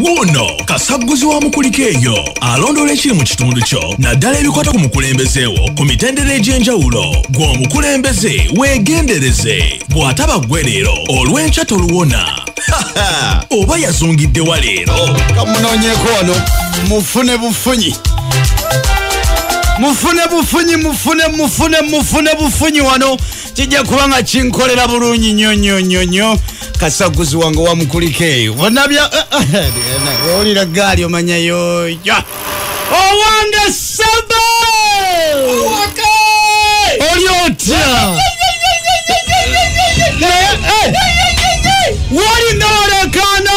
wuuno kasagguzi wa mukulika eyo alondoola ekiri mu kitundu kyo naddala ebikwata ku mukulembeze wo ku mitendera egy'enjawulo gw'omukulembeze weegendereze bw'ataba ggwe leero olw'enkya toluwona oba yazungidde wa leero kamunoonyeko wano mufune bufunyi mufune bufunyi mufune mufune mufune bufunyi wano kijja kuba nga kinkolera bulungi nyo nyo nyo nyo kasaguzi wange wamukulikeeyo bonabya olira gaali omanyayo ya owange saba oli otya Naye, eh, wali nolekana